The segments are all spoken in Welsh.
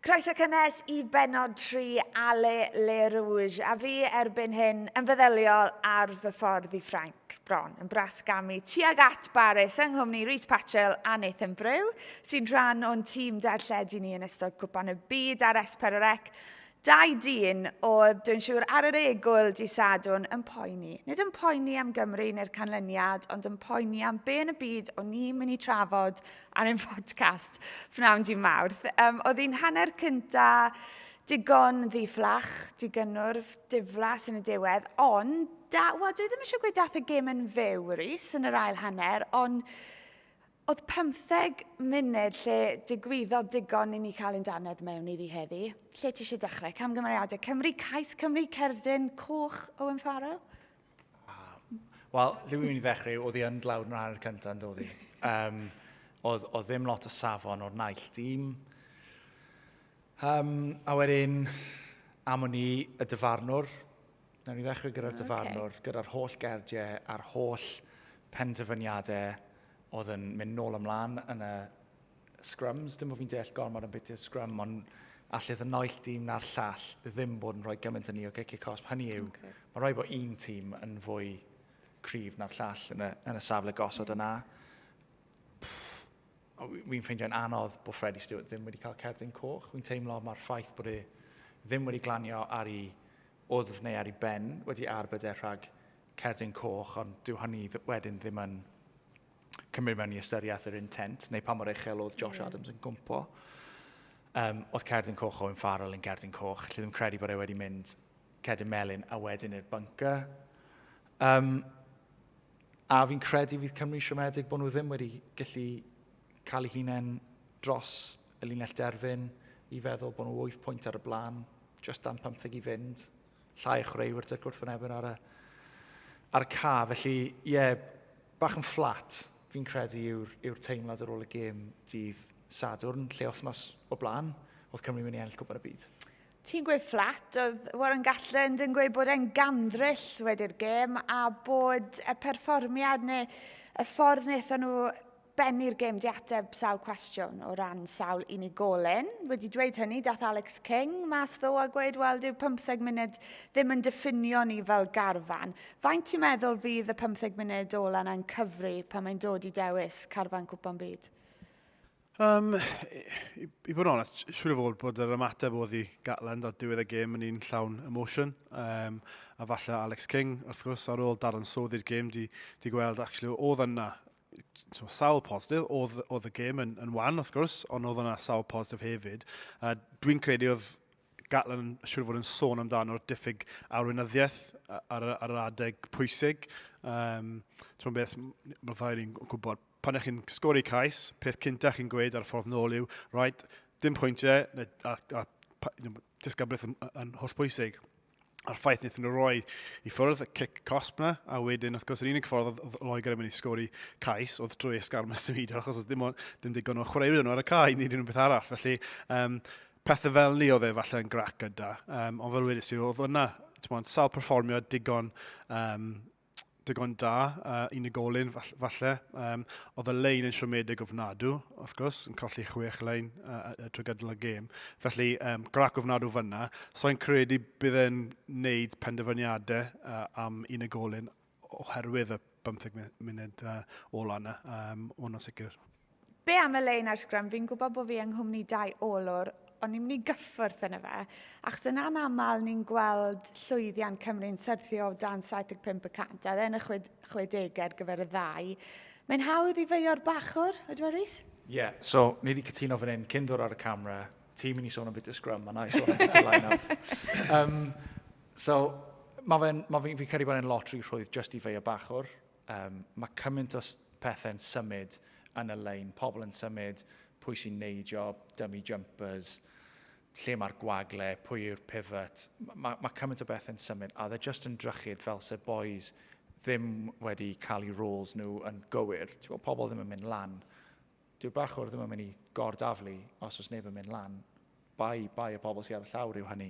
Croeso cynnes i benod 3 Ale Le Rouge, a fi erbyn hyn yn feddyliol ar fy ffordd i Ffrainc, bron yn bras gamu tuag at Baris yng nghwmni Rhys Patchell a Nathan Brew, sy'n rhan o'n tîm darlledu ni yn ystod Cwpan y Byd ar Esperorec. Dau dyn oedd, dwi'n siŵr, ar yr egwyl di Sadwn yn poeni. Nid yn poeni am Gymru neu'r canlyniad, ond yn poeni am be yn y byd o'n ni'n mynd i trafod ar ein podcast pnawn di Mawrth. Um, oedd hi'n hanner cynta digon ddiflach, digynwrf, diflas yn y diwedd, ond da, wel, dwi ddim eisiau gweud dath y gêm yn fyw, Rhys, yn yr ail hanner, ond oedd 15 munud lle digwyddodd digon i ni cael ein danedd mewn iddi heddi. Lle ti eisiau dechrau? Camgymeriadau Cymru, Cais Cymru, Cerdyn, Coch, Owen Farrell? Wel, dwi'n mynd i ddechrau, oedd hi yn dlawd yn rhan o'r cyntaf, yn dod i. Um, oedd, oedd ddim lot o safon o'r naill dîm. Um, a wedyn, am o'n i y dyfarnwr, na ni ddechrau gyda'r okay. dyfarnwr, gyda'r holl gerdiau a'r holl penderfyniadau oedd yn mynd nôl ymlaen yn y scrums, dim bod fi'n deall gormod am beth yw'r scrum, ond allith y noill dîm na'r llall ddim bod yn rhoi gymaint yn ni o giciau cosb. Hynny yw, okay. mae rhaid bod un tîm yn fwy cryf na'r llall yn y, yn y safle gosod yna. Fi'n ffeindio'n anodd bod Freddie Stewart ddim wedi cael cerdyn coch. Fi'n teimlo mae'r ffaith bod e ddim wedi glanio ar ei wddf neu ar ei ben wedi arbed e rhag cerdyn coch, ond dyw hynny wedyn ddim yn cymryd mewn i ystyriaeth yr intent, neu pa mor uchel oedd Josh yeah. Adams yn gwmpo. Um, oedd Cerdyn Coch o'n Farrell yn Cerdyn Coch, lle ddim credu bod e wedi mynd Cerdyn Melin a wedyn i'r bunker. Um, a fi'n credu fydd Cymru siomedig bod nhw ddim wedi gallu cael ei hunain dros y linell derfyn i feddwl bod nhw 8 pwynt ar y blaen, just dan 15 i fynd, llai o chreuwyr dyrgwrth yn ebyn ar y, ar y ca. Felly, ie, yeah, bach yn fflat, fi'n credu, yw'r yw teimlad ar ôl y gêm dydd Sadwrn, lle wythnos o blaen, oedd Cymru mynd i ennill Cwpan y Byd. Ti'n gweud fflat, oedd Warren Gatland yn gweud bod e'n gandryll wedi'r gêm a bod y perfformiad neu y ffordd wnaethon nhw bennu'r gêm di ateb sawl cwestiwn o ran sawl unigolyn. Wedi dweud hynny, dath Alex King mas ddo a gweud, wel, dyw 15 munud ddim yn diffinio ni fel garfan. Faint ti'n meddwl fydd y 15 munud ola yna'n cyfri pan mae'n dod i dewis carfan cwpan byd? Um, i, i bod yn onest, siwr o fod bod yr ymateb oedd i Gatland ar diwedd y gêm yn un llawn emotion. Um, a falle Alex King, wrth gwrs, ar ôl dadansoddi'r gêm, di, di gweld, actually, oedd yna tymod, sawl positif, oedd, oedd y gêm yn, yn wan wrth gwrs, ond oedd yna sawl positif hefyd. A dwi'n credu oedd Gatlin yn siŵr fod yn sôn amdano'r diffyg arweinyddiaeth ar, ar yr adeg pwysig. Um, Ti'n beth, mae'r ddau ni'n gwybod, pan ych chi'n sgori cais, peth cynta chi'n gweud ar y ffordd nôl yw, right, dim pwyntiau, a, a, a disgyblaeth yn, yn holl bwysig. a'r ffaith wnaethon nhw roi i ffwrdd y cic cosp na, a wedyn, wrth gwrs, yr unig ffordd oedd Loegr yn mynd i sgori cais oedd drwy esgar mas y fyd, achos oedd dim, dim digon o chwaraewyr nhw ar y cae, nid unrhyw beth arall. Felly, um, pethau fel ni oedd e falle yn grac gyda, um, ond fel wedi si, oedd yna, ti'n sawl perfformio digon um, digon da, uh, unigolyn falle. Um, oedd y lein yn siomedig ofnadw, wrth gwrs, yn colli chwech lein uh, uh, trwy gydol y gêm. Felly, um, grac ofnadw fyna. So i'n credu bydd e'n neud penderfyniadau uh, am unigolyn oherwydd y 15 munud uh, ola yna. Um, Hwna'n sicr. Be am y lein ar sgrym? Fi'n gwybod bod fi yng nghwmni dau olwr, ond ni'n mynd i gyffwrdd yna fe, achos yn anaml ni'n gweld llwyddiant Cymru'n syrthio o dan 75 y cant, a yn y 60au ar gyfer y ddau. Mae'n hawdd i feio'r bachwr, ydw e Rhys? Ie, yeah, so ni wedi cytuno fan hyn, cyn dod ar y camera, ti'n mynd i sôn am bit y sgrym, a na i sôn am bit y line-out. Um, so, mae fe'n, ma fi'n fi credu bod e'n lotri rhwydd just i feio bachwr. Yym, mae cymaint o pethau'n symud yn y lein, pobl yn symud, pwy sy'n neidio, dummy jumpers, lle mae'r gwagle, pwy yw'r pivot, mae, mae cymaint o bethau'n symud, a dde just yn drychyd fel se boys ddim wedi cael eu roles nhw yn gywir. Ti'n gwybod, pobl ddim yn mynd lan Dyw bachwr ddim yn mynd i gor-daflu os oes neb yn mynd lan. Bai, bai y pobl sydd ar y llawr yw hynny.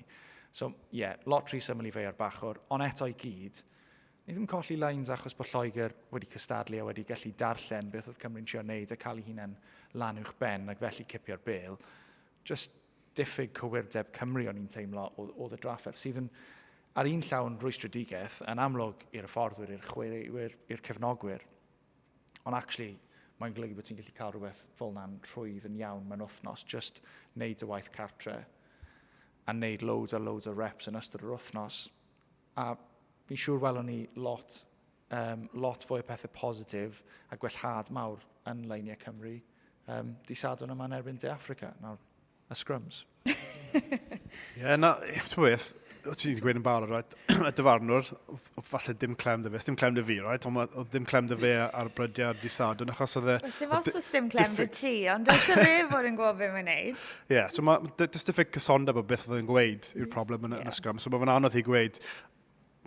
So, ie, yeah, lot rhy syml i fei ar bachwr, ond eto i gyd, ni ddim colli lines achos bod Lloegr wedi cystadlu a wedi gallu darllen beth oedd Cymru'n trio wneud a cael ei hunain lan uwch ben ac felly cipio'r bel. Just diffyg cywirdeb Cymru o'n i'n teimlo oedd y draffer, sydd yn ar un llawn rwystredigaeth yn amlwg i'r fforddwyr, i'r chwaraewyr, i'r cefnogwyr. Ond actually, mae'n golygu bod ti'n gallu cael rhywbeth fel na'n rhwydd yn iawn mewn wythnos, just wneud y waith cartre a wneud loads a loads o reps yn ystod yr wythnos. A fi'n siŵr welwn ni lot, um, lot fwy o pethau positif a gwellhad mawr yn leiniau Cymru um, di sadwn yma yn erbyn De Africa. Nawr, a scrums. Ie, na, ti'n beth, o ti'n wedi gweud yn barod, right? y dyfarnwr, falle dim clem dy fe, dim clem dy fi, right? Ond o ddim clem dy fe ar brydiau ar disad, yn achos oedd e... Os dim os oes dim clem dy ti, ond does dim fe fod yn gwybod beth mae'n neud. Ie, so mae diffyg cysondeb o beth oedd e'n gweud yw'r problem yn, y sgwm. So mae fe'n anodd i gweud,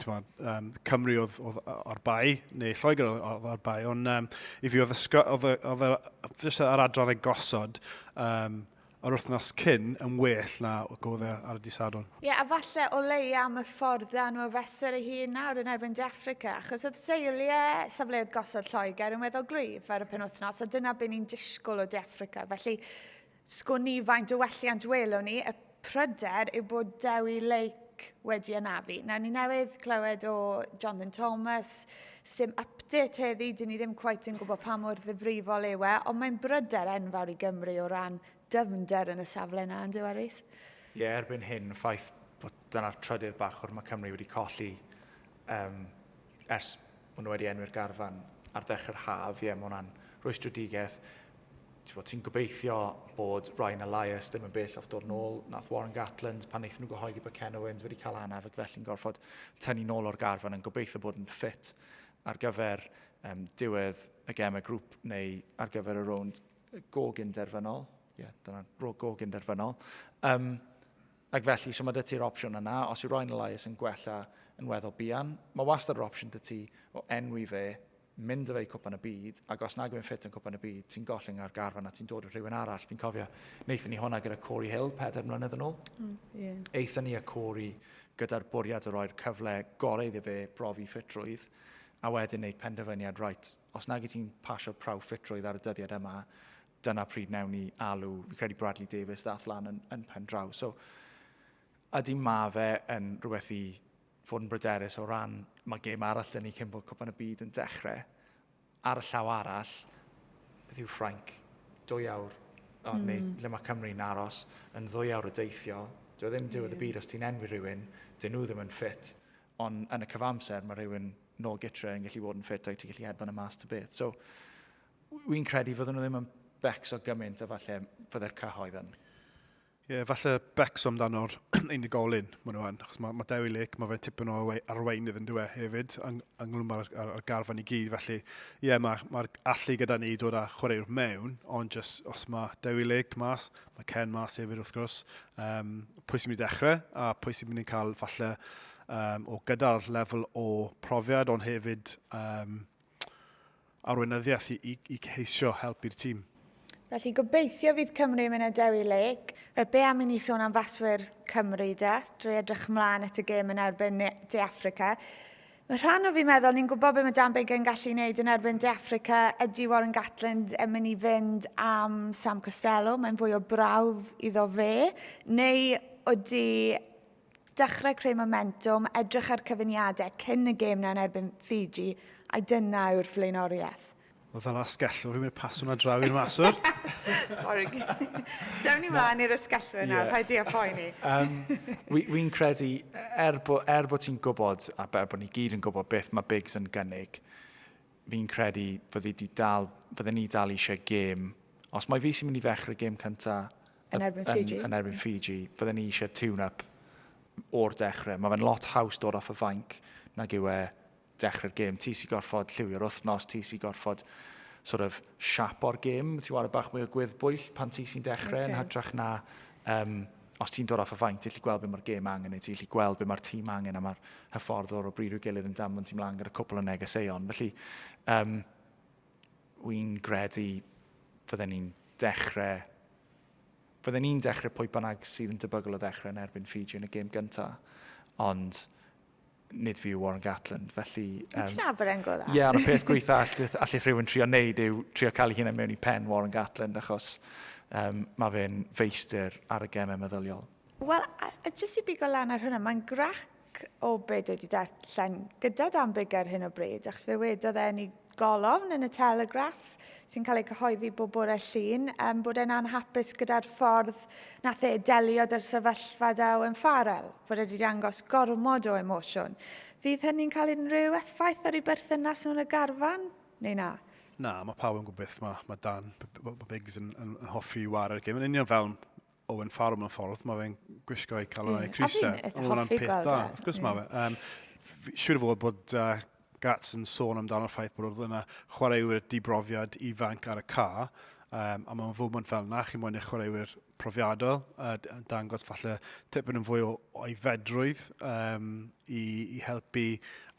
twa, um, Cymru oedd, oedd o'r bai, neu Lloegr oedd o'r bai, ond um, i fi oedd, ysgro, oedd, oedd, oedd jyst yr adran ei gosod um, yr wythnos cyn yn well na godd e ar y disadwn. Ie, yeah, a falle o lei am y ffordd dan nhw fesur ei hun nawr yn erbyn De Africa, achos oedd seiliau safleoedd gosod Lloegr yn weddol gryf ar y penwythnos, a dyna beth ni'n disgwyl o De Africa. Felly, Sgwn ni faint o welliant welwn ni, y pryder yw bod Dewi Lake wedi anafu. Nawr, ni newydd clywed o Jonathan Thomas, sy'n update heddi, dyn ni ddim cwaith yn gwybod pa mor ddifrifol yw e, ond mae'n bryder enfawr i Gymru o ran dyfnder yn y safle yna, yn dyw e, Rhys? Ie, yeah, erbyn hyn, ffaith bod dyna'r trydydd bachwr mae Cymru wedi colli um, Ers bod nhw wedi enwi'r garfan ar ddechrau'r haf, ie, mae hwnna'n rwystredigaeth. Ti'n ti gobeithio bod Ryan Elias ddim yn bell off dod yn ôl. Nath Warren Gatland, pan wnaethon nhw gyhoeddi bod Ken Owens wedi cael anaf ac felly'n gorfod tynnu nôl o'r garfan yn gobeithio bod yn ffit ar gyfer um, diwedd y gem y grŵp neu ar gyfer y rownd gog inderfynol. Ie, yeah, dyna gog inderfynol. Um, Ac felly, so mae 'da ti'r opsiwn yna, os yw rhoi yn y lais yn gwella yn weddol buan, mae wastad yr opsiwn 'da ti o enwi fe, mynd â fe i Cwpan y Byd, ac os nag yw'n ffit yn Cwpan y Byd, ti'n gollwng e o'r garfan a ti'n dod â rhywun arall. Fi'n cofio, wnaethon ni hwnna gyda Corey Hill, pedair mlynedd yn ôl. Mm, yeah. Eithon ni a Corey gyda'r bwriad o roi'r cyfle gorau iddo fe brofi ffitrwydd, a wedyn wneud penderfyniad, right, os nag i ti'n pasio'r prawf ffitrwydd ar y dyddiad yma, dyna pryd newn ni alw, fi credu Bradley Davies ddath lan yn, yn pen draw. So, ydy ma fe yn rhywbeth i fod yn bryderus o ran, mae gêm arall dyn ni cyn bod cwpan y byd yn dechrau. Ar y llaw arall, beth yw Ffrainc? Dwy awr, o, mm. neu lle mae Cymru'n aros, yn ddwy awr o deithio. Dwi e ddim diwedd y byd os ti'n enwi rhywun, dyn nhw ddim yn ffit. Ond yn y cyfamser, mae rhywun nôl gytre yn gallu bod yn ffit a ti'n gallu hedfan y mas ta beth. So, Wi'n credu fydden nhw ddim yn becs o gymaint a falle fydde'r cyhoedd yn. Ie, yeah, falle becs amdano'r unigolyn, maen nhw yn. Achos mae, mae Dewi Lake, mae fe'n tipyn o arweinydd yn dweud hefyd, yng, ynglyn mae'r ar, ar garfan i gyd. Felly, ie, yeah, mae'r mae allu gyda ni dod â chwaraewr mewn, ond just, os mae Dewi Lake mas, mae Ken mas hefyd wrth gwrs, um, pwy sy'n mynd i ddechrau a pwy sy'n mynd i'n cael falle um, o gyda'r lefel o profiad, ond hefyd um, arweinyddiaeth i, i, i ceisio helpu'r tîm. Felly gobeithio fydd Cymru yn mynd â Dewi Lake. Rhaid be am i ni sôn am faswyr Cymru de? Drwy edrych ymlaen at y gêm yn erbyn De Africa. Mae rhan o fi meddwl, ni'n gwybod beth mae Dan Biggar yn gallu wneud yn erbyn De Africa. Ydy Warren Gatland yn mynd i fynd am Sam Costello? Mae'n fwy o brawf iddo fe. Neu ydy Dechrau creu momentwm, edrych ar cyfuniadau cyn y gêm 'na yn erbyn Fiji, a dyna yw'r flaenoriaeth. Wel, fel asgellwr, fi'n mynd pasio hwnna draw i'r maswr. Sori. Dewn ni mlaen i'r asgellwyr nawr, paid di a phoeni. Fi'n credu, er bod ti'n gwybod, a er bod ni gyd yn gwybod beth mae Biggs yn gynnig, fi'n credu fyddi di dal, fydden ni dal eisiau gêm, os mae fi sy'n mynd i ddechrau gêm cynta yn erbyn Fiji, yn, yn erbyn Fiji fydden ni eisiau tune-up o'r dechrau. Mae fe'n lot haws dod off y fainc nag yw e dechrau'r gêm. Ti sy'n gorfod lliwio'r wythnos, ti sy'n gorfod sort of siapo'r gêm, ti'n wario bach mwy o gwyddbwyll pan ti sy'n dechrau okay. yn hytrach na um, os ti'n dod off y faint, ti'n lli gweld beth mae'r gêm angen i ti, ti'n lli gweld beth mae'r tîm angen a mae'r hyfforddwr o bryd i'w gilydd yn damfon ti'n mlaen gyda cwpl o negeseuon. Felly, um, wy'n gredu fydden ni'n dechrau fydden ni'n dechrau pwy bynnag sydd yn debygol o ddechrau yn erbyn Fiji yn y gêm gyntaf. Ond nid fi yw Warren Gatland, felly... Wyt ti'n Aberern go dda? Ie, ond y peth gweitha allith, allith rhywun trio wneud yw trio cael ei hunain mewn i pen Warren Gatland, achos um, mae fe'n feistr ar y gemau meddyliol. Wel, a, a jyst i bigo lan ar hwnna, mae'n grac o beth wedi darllen gyda Dan Biggar hyn o bryd, achos fe wedodd e yn ei golofn yn y Telegraph sy'n cael ei gyhoeddi bob bore llun um, bod e'n anhapus gyda'r ffordd nath e delio da'r sefyllfa da Owen Farrell, fod wedi dangos gormod o emosiwn. Fydd hynny'n cael unrhyw effaith ar ei berthynas nhw'n y garfan, neu na? Na, mae pawb yn gwybod beth mae, mae Dan Biggs yn, yn, yn hoffi i ware'r gym. Yn union fel Owen Farrell mewn ffordd, mae fe'n gwisgo ei calon yeah. a'i crisa. A fi'n hoffi gweld e. Wrth gwrs mae fe. Um, siwr fod bod uh, Gats yn sôn amdano'r ffaith bod oedd yna chwaraewyr dibrofiad ifanc ar y ca, um, a mae'n fwmwnt fel yna, chi'n mwyn eich chwaraewyr profiadol, a dangos falle tipyn yn fwy o oedfedrwydd um, i, i helpu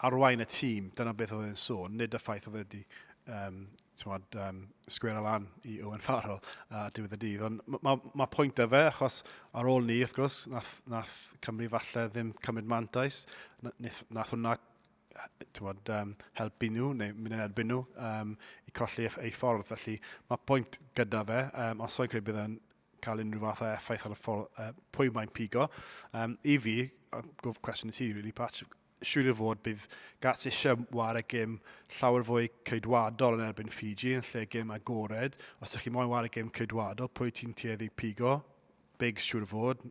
arwain y tîm. Dyna beth oedd e'n sôn, nid y ffaith oedd wedi um, tibod, um, sgwera lan i Owen Farrell a uh, diwedd y dydd. Ond mae ma, ma pwynt da fe, achos ar ôl ni, wrth gwrs, nath, nath Cymru falle ddim cymryd mantais, nath, nath hwnna tywod, um, helpu nhw neu mynd yn erbyn nhw um, i colli ei ffordd. Felly mae pwynt gyda fe, um, os oes credu bydd yn cael unrhyw fath o effaith ar y ffordd, uh, pwy mae'n pigo. Um, I fi, gwrdd cwestiwn i ti, really, Patch, siŵr o fod bydd Gats eisiau wario gêm llawer fwy ceidwadol yn erbyn Fiji yn lle gêm agored. Os ydych chi moyn wario gêm ceidwadol, pwy ti'n tueddu pigo? Big siŵr o fod.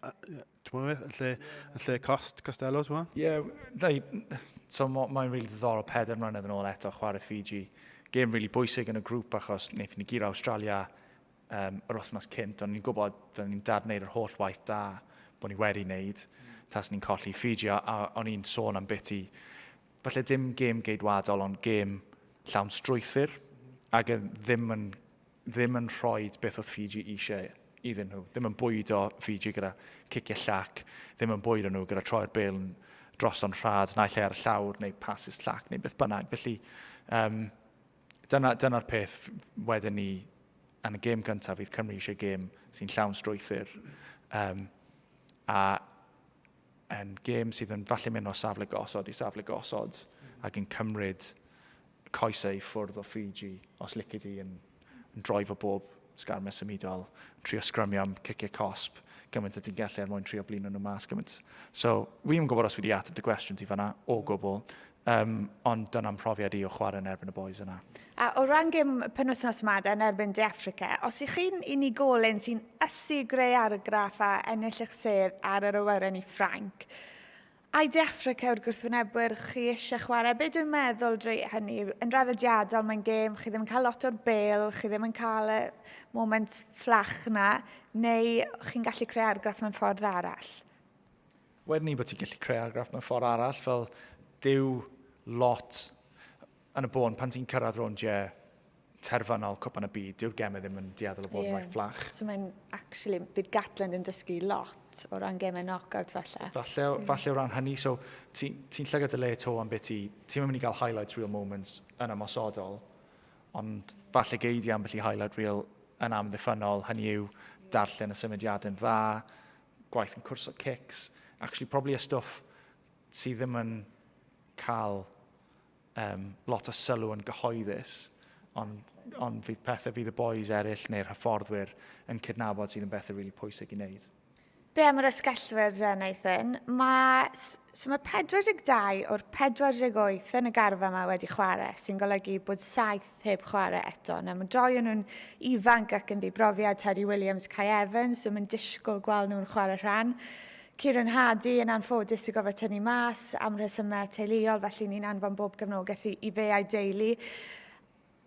Ti'n yn lle, yn lle cost, Costello, ti'n mwyn? Ie, yeah, so mae'n rili ddiddorol peder mlynedd yn ôl eto chwarae Fiji. Gêm rili really bwysig yn y grŵp achos wnaethon ni gyr Australia um, yr wythnos cynt, ond ni'n gwybod fydden ni'n dad wneud yr holl waith da bod ni wedi wneud, tas ni'n colli Fiji, a, a o'n i'n sôn am biti, falle dim gêm geidwadol, ond gêm llawn strwythyr, ac e ddim yn, ddim yn rhoi beth oedd Fiji eisiau iddyn nhw. Ddim yn bwyd o Fiji gyda ciciau llac, ddim yn bwyd o nhw gyda troi'r bel yn dros o'n rhad, naill ar y llawr neu pasus llac neu beth bynnag. Felly, um, Dyna'r dyna, dyna peth wedyn ni yn y gêm gyntaf, fydd Cymru eisiau gêm sy'n llawn strwythyr. Um, a yn gêm sydd yn falle mynd o safle gosod i safle gosod ac yn cymryd coesau i ffwrdd o Fiji os licid i yn, yn droi fo bob Sgarmau symudol, yn trio sgrymio am ciciau cosb gymaint y ti'n gallu er mwyn trio blino nhw mas gymaint. So, wi ddim yn gwybod os fi wedi ateb dy gwestiwn ti fanna o gwbl, um, ond dyna'n mhrofiad i o chwarae yn erbyn y boys yna. A o ran gym penwythnos yma yn erbyn De Africa, os ych chi'n unigolyn sy'n ysu greu argraff a ennill eich sedd ar yr awyren i Ffrainc, I De Affrica yw'r gwrthwynebwyr chi eisiau chwarae. Be dwi'n meddwl dre hynny, yn draddodiadol mae'n gêm, chi ddim yn cael lot o'r bel, chi ddim yn cael y moment fflach na, neu chi'n gallu creu argraff mewn ffordd arall? Wedyn ni bod ti'n gallu creu argraff mewn ffordd arall, fel dyw lot Yn y bôn, pan ti'n cyrraedd rownd je terfynol Cwpan y Byd, dyw'r gemau ddim yn dueddol o bod yn yeah. rhoi fflach. So mae'n, actually, bydd Gatland yn dysgu lot o ran gemau knockout falle. Falle, mm. falle o ran hynny, so ti'n ti, ti llygad y le to am beth ti, ti'n mynd i gael highlights real moments yn ymosodol, ond falle geid i ambell i highlight real yn amddiffynol, hynny yw darllen y symudiad yn dda, gwaith yn cwrs o cics, actually probably y stwff sydd ddim yn cael um, lot o sylw yn gyhoeddus, ond, on fydd pethau fydd y boys eraill neu'r hyfforddwyr yn cydnabod sydd yn bethau rili really pwysig i wneud. Be am yr ysgellwyr dda, Nathan? Mae, so mae 42 o'r 48 yn y garfa yma wedi chwarae, sy'n golygu bod 7 heb chwarae eto. Na, mae'n doi o'n nhw'n ifanc ac yn ddibrofiad, Terry Williams, Kai Evans, so mae'n disgwyl gweld nhw'n chwarae rhan. Kieran Hardy yn anffodus i gofio tynnu mas am rhesymau teuluol, felly ni'n anfon bob gefnogaeth i, i fe a'i deulu.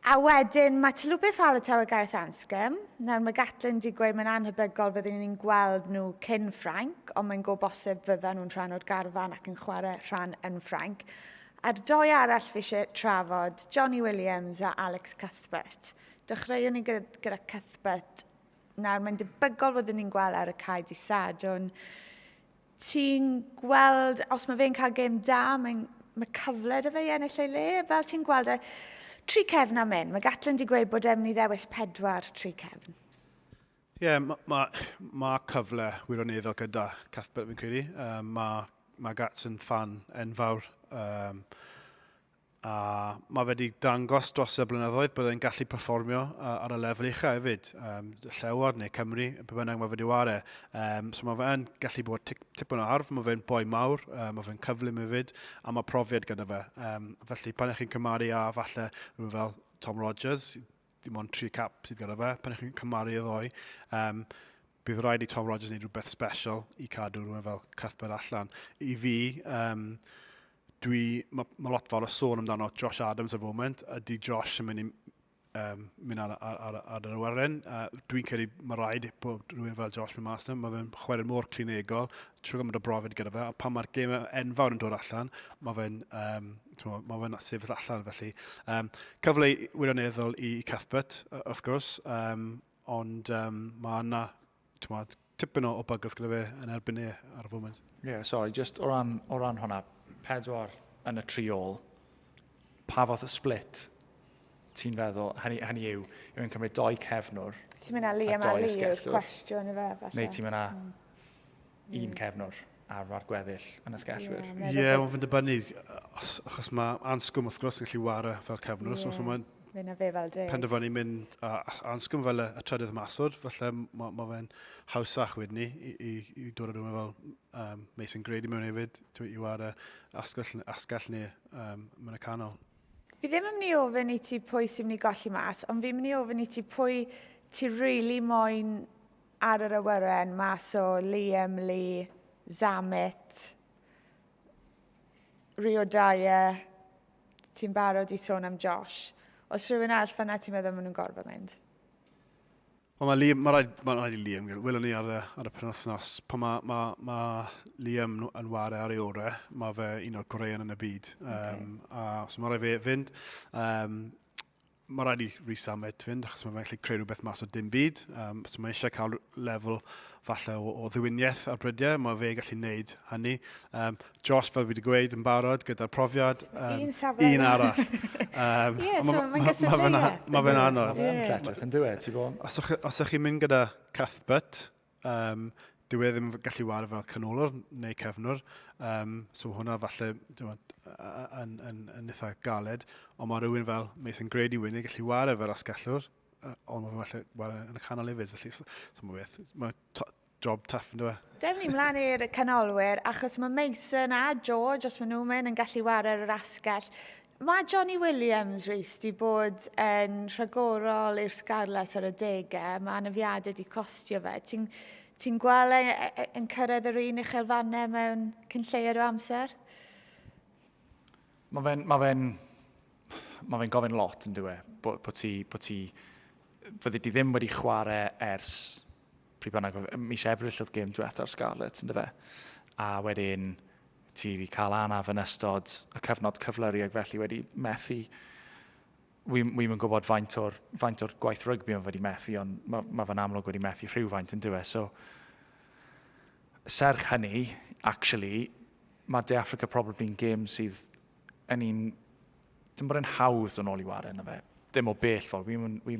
A wedyn, mae Talupe Faletau a Gareth Anscombe. Nawr, mae Gatlin wedi gweud mae'n anhebygol fyddwn ni'n gweld nhw cyn Ffrainc, ond mae'n go bosib fyddan nhw'n rhan o'r garfan ac yn chwarae rhan yn Ffrainc. A'r doi arall fi eisiau trafod, Jonny Williams a Alex Cuthbert. Dechreuwn ni gyda, gyda Cuthbert. Nawr, mae'n debygol fod ni'n gweld ar y cae di Sadwn. Ti'n gweld, os mae fe'n cael gêm da, mae'n mae cyfle da fe i ennill ei le. Fel ti'n gweld e, tri cefn am hyn. Mae Gatlin wedi gweud bod e'n mynd i ddewis pedwar tri cefn. Ie, yeah, mae ma, ma cyfle wirioneddol gyda Cuthbert fi'n credu. Um, mae ma Gats yn fan enfawr. Um, a mae wedi dangos dros y blynyddoedd bod e'n gallu perfformio uh, ar y lefel uchaf hefyd, um, llewod neu Cymru, pe bynnag mae wedi ware. Um, so mae fe'n gallu bod tip, tipyn o arf, mae fe'n boi mawr, um, mae fe'n cyflym hefyd, a mae profiad gyda fe. Um, felly pan ych chi'n cymaru a falle rhywun fel Tom Rogers, dim ond tri cap sydd gyda fe pan chi'n cymharu y ddoe. Um, bydd rhaid i Tom Rogers wneud rhywbeth special i cadw rhywun fel Cuthbert allan. I fi, um, dwi, mae ma lot fawr o sôn amdano Josh Adams y foment, a di Josh yn mynd i um, mynd ar, ar, ar, ar yr awyren. Uh, dwi'n credu mae rhaid bod rhywun fel Josh mynd mas Mae fe'n chwarae mor clinegol, trwy gymryd o brofiad gyda fe, a pan mae'r gêm enfawr yn dod allan, mae fe'n um, Mae ma fe'n sefyll allan felly. Um, cyfle wirioneddol i Cathbert, wrth gwrs, um, ond um, mae yna tipyn o, o bygwth gyda fe yn erbyn e ar y foment. Ie, yeah, sorry, just o ran, o ran hwnna, pedwar yn y tri ôl, pa fath o split ti'n feddwl, hynny, hynny yw, yw yn cymryd doi cefnwr. Ti'n mynd â Liam a Lee yw'r cwestiwn i fe, falle. Neu ti'n mynd â... Mm. un cefn o'r arm a'r gweddill yn y sgellwyr. Ie, yeah, yeah, ond fynd y bynnu, achos mae ansgwm wrth gwrs yn gallu wario fel cefnwr, yeah. so mae'n Fyna fe fel deg. Penderfynu mynd a, a ansgwm fel y, y trydydd masod, felly mae ma fe'n hawsach wedyn ni i, i, i dod â rhywun fel um, Mason Grady mewn hefyd, i war y asgell, asgell ni um, mewn y canol. Fi ddim yn mynd i ofyn i ti pwy sy'n mynd i golli mas, ond fi'n mynd i ofyn i ti pwy ti really moyn Ar yr awyren mas o Liam Lee, Zammit, Rio Dyer, ti'n barod i sôn am Josh. Os rhywun arall fanna ti'n meddwl maen nhw'n gorfod mynd? Wel, mae Liam, mae rhaid, mae rhaid i Liam gael. Welwn ni ar y, ar y penwythnos. Pan mae, mae, mae Liam yn ware ar ei orau, mae fe un o'r goreuon yn y byd. Um, okay. a, so mae rhaid fe fynd. Um, mae rhaid i Rhys Amet fynd, achos mae'n gallu creu rhywbeth mas o dim byd. Um, so mae eisiau cael lefel falle o, o ddiwyniaeth ar brydiau, mae fe gallu gwneud hynny. Um, Josh, fel fi wedi gweud, yn barod gyda'r profiad. Um, un safle. Un arall. um, yeah, so mae'n gysylltu. Mae fe'n anodd. Mae'n cletach yn dweud, ti'n bod? Os ych chi'n mynd gyda Cuthbert, Um, dyw e ddim yn gallu wario fel canolwr neu cefnwr. Um, so hwnna falle yn, yn, yn eitha galed. Ond mae rhywun fel Mason Grady Winnie gallu wario fel asgellwr. Uh, ond mae falle wario yn y canol hefyd. Felly, so, so mae beth, mae job tough yn dweud. Dewch ni mlaen i'r canolwyr, achos mae Mason a George, os maen nhw'n mynd, yn gallu wario ar yr asgell. Mae Jonny Williams reis di bod yn rhagorol i'r Scarlets ar adegau. Mae anafiadau di costio fe. Ti'n ti gweld e, e, e, yn cyrraedd yr un uchelfannau mewn cyn lleied o amser? Mae fe'n ma fe ma fe gofyn lot yn dweud e. Bod ti, bo ti, fyddi di ddim wedi chwarae ers pryd bynnag, oedd mis Ebrill oedd gêm diwetha'r Scarlets, ynddo fe? A wedyn, ti wedi cael anaf yn ystod y cyfnod cyflyru ac felly wedi methu wi'n wi yn gwybod faint o'r, faint or gwaith rygbi o'n wedi methu, ond mae ma fe'n amlwg wedi methu rhywfaint yn dweud. So, serch hynny, actually, mae De Africa probably yn gêm sydd yn un dim bod e'n hawdd dod nôl i wario yna fe. Dim o bell ffordd, wi'n mynd, wi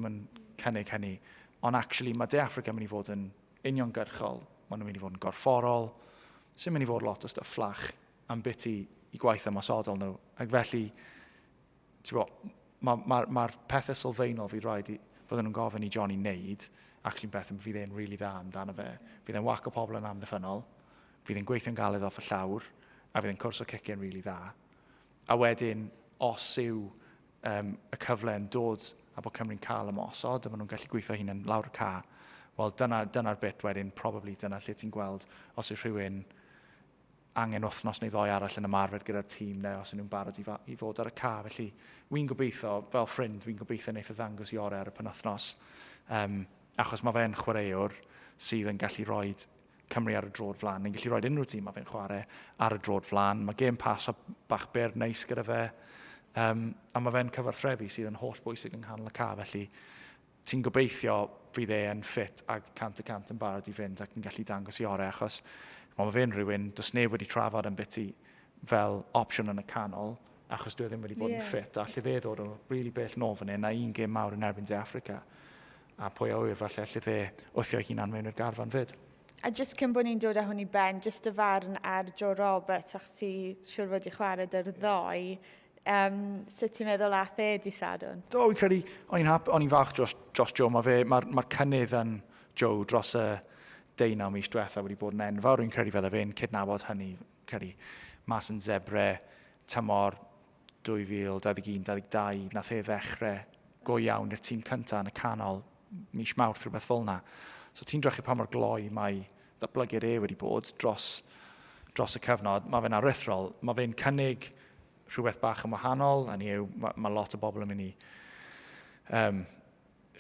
cynnig hynny. Ond actually, mae De Africa yn mynd i fod yn uniongyrchol. Maen nhw'n mynd i fod yn gorfforol. Sy'n mynd i fod lot o stuff fflach am bit i, i gwaith ymosodol nhw. Ac felly, ti'n bod, mae'r ma, ma, ma pethau sylfaenol fydd rhaid i, fod nhw'n gofyn i Johnny wneud, actually'n pethau fydd e'n rili really dda amdano fe. Fydd e'n waco pobl yn amddiffynol, fydd e'n gweithio'n galed off y llawr, a fydd e'n cwrs o cicio'n rili really dda. A wedyn, os yw um, y cyfle yn dod a bod Cymru'n cael ymosod a maen nhw'n gallu gweithio hyn yn lawr y ca, wel dyna'r dyna, dyna bit wedyn, probably dyna lle ti'n gweld os yw rhywun angen wythnos neu ddoi arall yn ymarfer gyda'r tîm neu os nhw'n barod i, i fod ar y ca. Felly, wy'n gobeithio, fel ffrind, wy'n gobeithio wneud y ddangos i orau ar y penwthnos. Um, achos mae fe'n chwaraewr sydd yn gallu rhoi Cymru ar y drod flan. Ni'n gallu rhoi unrhyw tîm mae fe'n chwarae ar y drod flan. Mae gêm pas a bach byr neis gyda fe. Um, a mae fe'n cyfarthrefu sydd yn holl bwysig yng nghanol y ca, felly ti'n gobeithio fydd e yn ffit ac cant y cant yn barod i fynd ac yn gallu dangos i orau, achos mae fe'n rhywun, dos neb wedi trafod yn biti fel opsiwn yn y canol, achos dwi e ddim wedi bod yeah. yn ffit, a lle dde ddod o rili really bell nôl fan hyn, a un gêm mawr yn erbyn De Africa. A pwy a ŵyr, falle allith e wthio'i hunan mewn i'r garfan 'fyd. A jyst cyn bod ni'n dod â hwn i ben, jyst dy farn ar Joe Roberts, achos ti siwr fod i chwarae dy'r ddoe, um, sut ti'n meddwl ath e di Sadwn? Do, fi'n credu, o'n i'n hap, o'n i'n fach dros, dros Joe, mae fe, mae'r ma cynnydd yn Joe dros y deunaw mis diwetha wedi bod yn enfawr, fi'n credu fydde fe'n cydnabod hynny, credu mas yn zebre tymor 2021-22, nath e ddechre go iawn i'r tîm cynta yn y canol mis Mawrth, rhywbeth fel yna. So ti'n drechu pa mor gloi mae ddatblygiad e wedi bod dros, dros y cyfnod. Mae fe'n aruthrol. Mae fe'n cynnig rhywbeth bach yn wahanol, hynny yw, mae, mae lot o bobl yn mynd i um,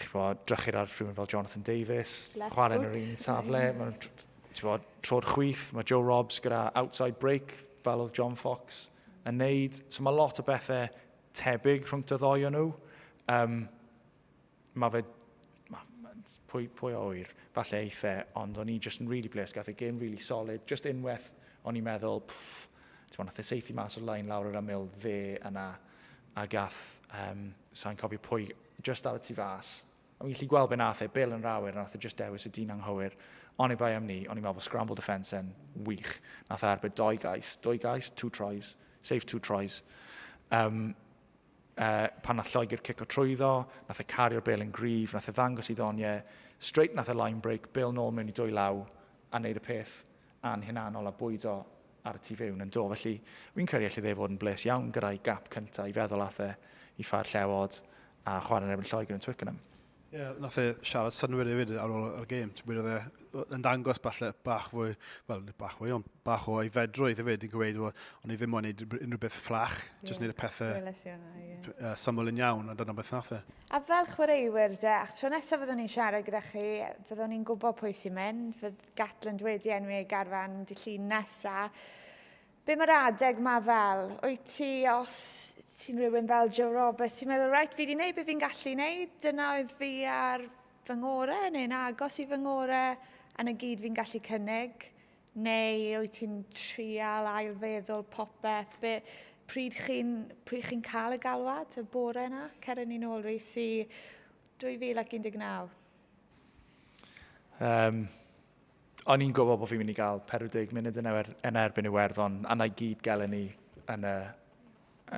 chwod, drychyd ar rhywun fel Jonathan Davies, chwarae yn yr un safle, mae'n chwod, tro'r chwyth, mae Joe Robbs gyda outside break, fel oedd John Fox yn neud. So mae lot o bethau tebyg rhwng dy ddoi o nhw. Um, mae fe... Ma, ma, pwy, pwy o oer, falle eitha, ond o'n i'n just yn really blessed, gath ei game really solid, just unwaith o'n i'n meddwl, pfff, ti'n mwyn, nath e seithi mas o'r lain lawr yr aml dde yna, a gath, um, sa'n cofio pwy Jyst dal y tu fas. O'n i'n gallu gweld be nath e, Bill yn yr awyr, nath e jyst dewis y dyn anghywir. Oni bai am ni, o'n i'n meddwl bod scramble defence yn wych. Nath e arbed doi gais, doi gais, two tries, save two tries. Um, uh, pan nath Lloegr cico trwyddo, nath e cario'r bel yn grif, nath e ddangos i ddoniau, straight nath e line break, bel nôl mewn i dwy law, a wneud y peth a'n hunanol a bwydo ar y tu fewn yn do. Felly, fi'n credu allai dde fod yn bles iawn gyda'i gap cynta i feddwl ath e i ffair Llewod a chwarae yn erbyn Lloegr yn Twickenham. Ie, yeah, nath e siarad synwyr hefyd ar ôl yr gêm. Ti'n gwybod, oedd e'n dangos falle bach fwy, wel, nid bach fwy, ond bach o aeddfedrwydd hefyd yn gweud, well, o'n i ddim mo'n neud unrhyw beth fflach, yeah. jyst neud y pethau yeah. uh, syml yn iawn, a dyna beth nath e. A fel chwaraewyr de, ach tro nesaf fyddwn ni'n siarad gyda chi, fyddwn ni'n gwybod pwy sy'n mynd, fydd, Gatland wedi enwi ei garfan dy llun nesa. Be mae'r adeg ma fel? Wyt ti, os ti'n rhywun fel Joe Roberts, ti'n meddwl, reit, fi wedi gwneud beth fi'n gallu gwneud, dyna oedd fi ar fy ngorau neu'n agos i fy ngorau yn y gyd fi'n gallu cynnig? Neu wyt ti'n trial ailfeddwl popeth? Be, pryd chi'n pryd chi'n cael y galwad y bore yna? Ceren ni'n ôl rhys i 2019. Um, o'n i'n gwybod bod fi'n mynd i gael 40 munud yn, er, yn erbyn Iwerddon, a na i gyd gelen ni yn y,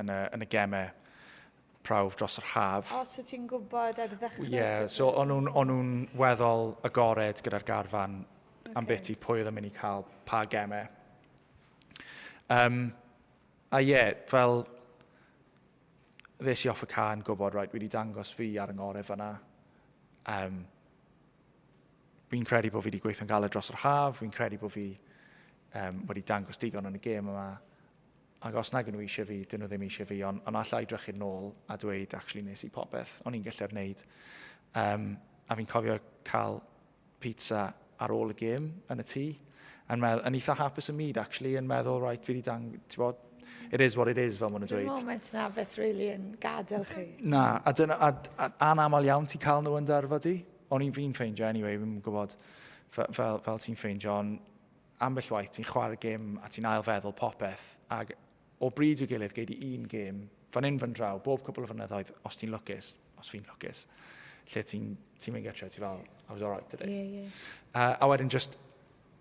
yn y, yn y gemau prawf dros yr haf. O, so ti'n gwybod ar ddechrau? Ie, yeah, so o'n nhw'n on nhw weddol agored gyda'r garfan okay. am beth i pwy oedd yn mynd i cael pa gemau. Um, a ie, yeah, fel ddes i off y ca yn gwybod, right, wedi dangos fi ar yng ngorau fyna. Um, fi'n credu bod fi wedi gweithio'n galed dros yr haf, fi'n credu bod fi um, wedi dangos digon yn y gêm yma, ac os nag nhw eisiau fi, dyn nhw ddim eisiau fi, ond on allai drechu'n nôl a dweud, actually, nes i popeth, o'n i'n gallu'r wneud. Um, a fi'n cofio cael pizza ar ôl y gêm yn y tŷ, yn, meddwl, yn eitha hapus y myd, actually, yn meddwl, right, fi wedi dang... Bod, it is what it is, fel maen nhw'n dweud. Dwi'n moment na beth really yn gadael chi. Na, a, dyna, a, a, a anaml iawn ti cael nhw yn darfa di. O'n i'n fi'n ffeindio, anyway, fi'n gwybod fel, fel, fel ti'n ffeindio, ond ambell waith ti'n chwarae gym a ti'n ailfeddwl popeth, ac o bryd i'w gilydd, gei di un gêm, fan hyn, fan draw, bob cwbl o flynyddoedd, os ti'n lwcus, os fi'n lwcus, lle ti'n ti mynd gytre, ti fel, I was alright today. Yeah, yeah. Uh, a wedyn just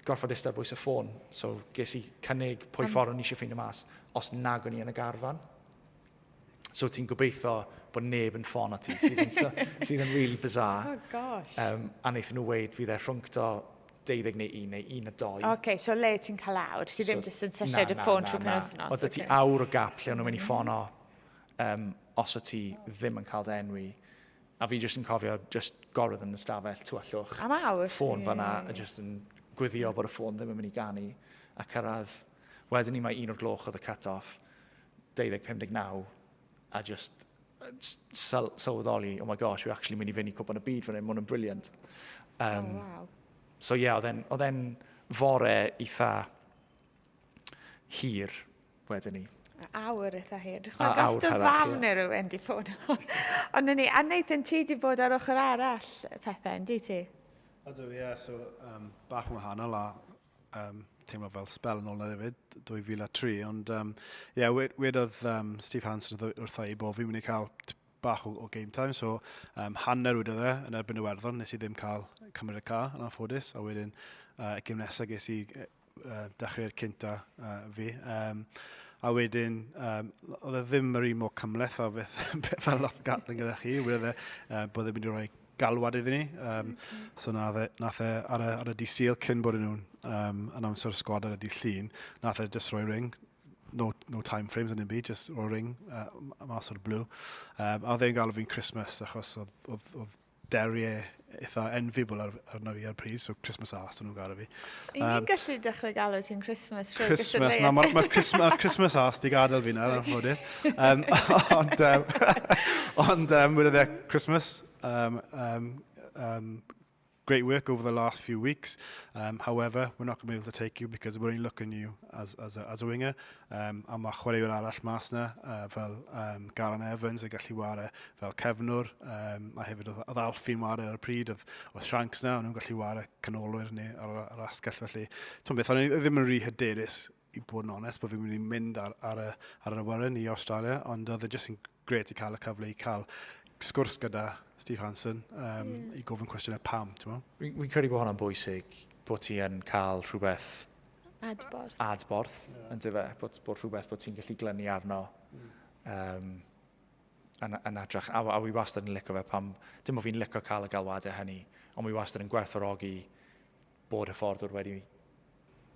gorfod eistedd bwys y ffôn, so ges i cynnig pwy um, ffordd o'n i eisiau ffeindio mas, os nag o'n i yn y garfan. So ti'n gobeithio bod neb yn ffôn at ti, sydd yn, sydd yn really bizarre. Oh gosh. Um, a wnaethon nhw weid fydd e rhwng to 12 neu 1 neu 1 a 2. Oce, okay, so le ti'n cael awr? Ti ddim so, jyst yn sylliad y ffôn trwy penwythnos? Oedd ti awr o gap lle o'n nhw'n mynd i ffono um, os o ti ddim yn cael dy enwi. A fi jyst yn cofio just gorfod yn y stafell tu allwch. Am awr? Ffôn fanna, a jyst yn gwyddio bod y ffôn ddim yn mynd i ganu. A cyrraedd, wedyn ni mae un o'r gloch oedd y cut-off. 20, 59, a just syl sylweddoli, oh my gosh, we're actually mynd i fynd i cwpan y byd fan hyn, mae hwn yn briliant. Um, oh, wow. So ie, yeah, oedd e'n fore eitha hir wedyn ni. Awr eitha hir. A awr dy fam neu rhywun di bod. Ond ni, a Nathan, ti di bod ar ochr arall pethau, yndi ti? Ydw, ie, yeah, so um, bach yn wahanol a um, teimlo fel spel yn ôl ar efyd, 2003, ond um, yeah, wedodd um, Steve Hansen wrtho i bod fi'n mynd i cael bach o, o game time, so um, hanner wedodd e yn erbyn y werddon, nes i ddim cael cymryd y ca yn anffodus, a wedyn uh, y gym nesaf ges i uh, dechrau'r cynta uh, fi. Um, a wedyn, um, oedd e ddim yr un mor cymleth a beth, beth fel lot gatling gyda chi, wedodd e uh, bod e'n mynd i roi galwad iddyn ni. Um, so nath e, nath e ar, y, ar y dydd syl cyn bod nhw'n um, announce o'r sgwad ar y dydd llun, nath e just roi ring, no, no time frames yn y byd, just roi ring uh, mas o'r blue. Um, a oedd e'n galw fi'n Christmas achos oedd, oedd, oedd Derry e eitha enviable ar, arno fi ar pryd, so Christmas Ass o'n nhw'n gael fi. Y'n ni'n gallu dechrau galw ti'n Christmas trwy Christmas, na, mae'r ma Christmas, ma Christmas arse di gadael fi na, yn anffodus. Um, ond, um, ond, um, wyd e Christmas, um, um, um, great work over the last few weeks. Um, however, we're not going to be able to take you because we're only looking at you as, as, a, as a winger. Um, a mae chwaraewr arall mas na, uh, fel um, Garan Evans yn gallu ware fel cefnwr, um, a hefyd oedd, oedd Alfi'n ware ar y pryd, oedd, oedd Shanks na, o'n nhw'n gallu ware canolwyr ni ar, ar asgell, felly, ti'n beth, o'n i ddim yn rhy hyderus i bod yn onest, bod fi'n mynd i mynd ar, ar, y, ar yr awyren i Australia, ond oedd e jyst yn gret i cael y cyfle i cael sgwrs gyda Steve Hansen um, mm. i gofyn cwestiynau pam, ti'n mo? Fi'n credu bod hwnna'n bwysig, bod ti yn cael rhywbeth... Adborth. Adborth, yeah. yn dyfa, bod, bod rhywbeth bod ti'n gallu glynu arno. Mm. Um, yn, yn adrach, a, a wi wastad yn licio fe pam, dim o fi'n licio cael y galwadau hynny, ond wi wastad yn gwerthorogi bod hyfforddwr wedi,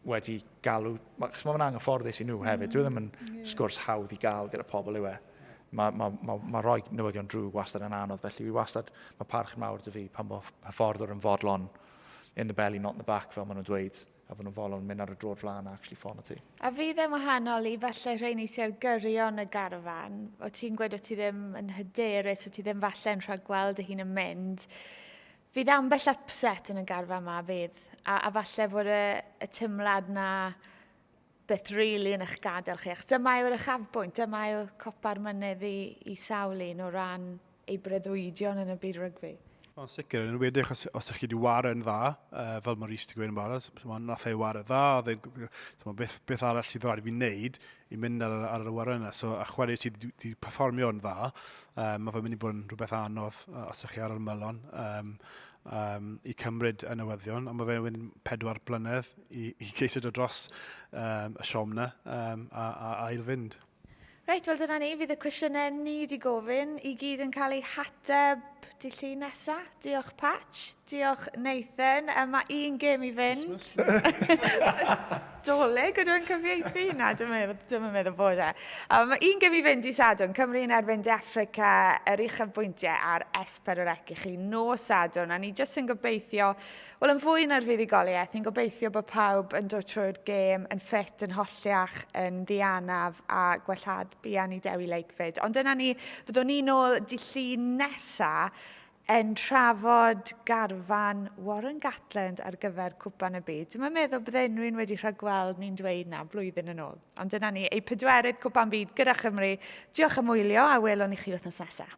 wedi galw, chos mae fe'n anghyfforddus i nhw hefyd, dwi e ddim yn mm, sgwrs hawdd i gael gyda pobl yw e. Mae ma, ma, ma rhoi newyddion drwg wastad yn anodd, felly fi wastad, mae parch yn mawr dy fi pan bod hyfforddwr yn fodlon in the belly, not in the back, fel maen nhw'n dweud, a bod nhw'n fodlon mynd ar y drod flan a actually ffono ti. A fi ddim wahanol i falle rheini ti ar gyrion y garfan, o ti'n gweud o ti ddim yn hyderus, o ti ddim falle yn rhagweld y hun yn mynd, Fydd ambell upset yn y garfa yma, fydd. A, a falle fod y, y tymlad na beth rili really yn eich gadael chi. Achos dyma yw'r uchafbwynt, dyma yw copa'r mynydd i, i sawl un o ran ei breddwydion yn y byd rygbi. Mae'n sicr, yn wedi os, os ydych chi wedi waren dda, uh, fel mae Rhys wedi gweud yn barod, nath ei waren dda, oedd e'n, beth, beth arall sydd rhaid i fi wneud i mynd ar, ar yr awyren yna. So, a chwarae sydd wedi performio yn dda, um, mae fe'n mynd i bod yn rhywbeth anodd uh, os ydych chi ar yr melon um, um, i cymryd y newyddion, a mae fe'n mynd pedwar blynedd i, i geisio dod dros um, y siom na um, a, a, a ail fynd. Reit, wel dyna ni, fydd y cwestiynau ni wedi gofyn i gyd yn cael eu hateb Dy llun nesa. Diolch Patch. Diolch Nathan. Yy ma' un gêm i fynd. Dolig ydw i'n cyfieithu? Na, dwi'm yn meddwl, dwi'm yn meddwl bod e. A ma' un gêm i fynd i Sadwrn, Cymru yn erbyn De Affrica, yr uchafbwyntiau a'r esper yr ec i chi nos Sadwrn, a ni jyst yn gobeithio Wel yn fwy na'r fuddugoliaeth, ni'n gobeithio bod pawb yn dod trwy'r gêm yn ffit, yn holliach, yn ddianaf a gwellhad buan i Dewi Lakeford. Ond dyna ni, fyddwn ni nôl dillu nesa yn trafod garfan Warren Gatland ar gyfer Cwpan y Byd. Dwi'n meddwl bydde unrhyw'n wedi rhagweld ni'n dweud na blwyddyn yn ôl. Ond dyna ni, ei pedwerydd Cwpan Byd gyda Chymru. Diolch am wylio a welwn i chi wythnos nesaf.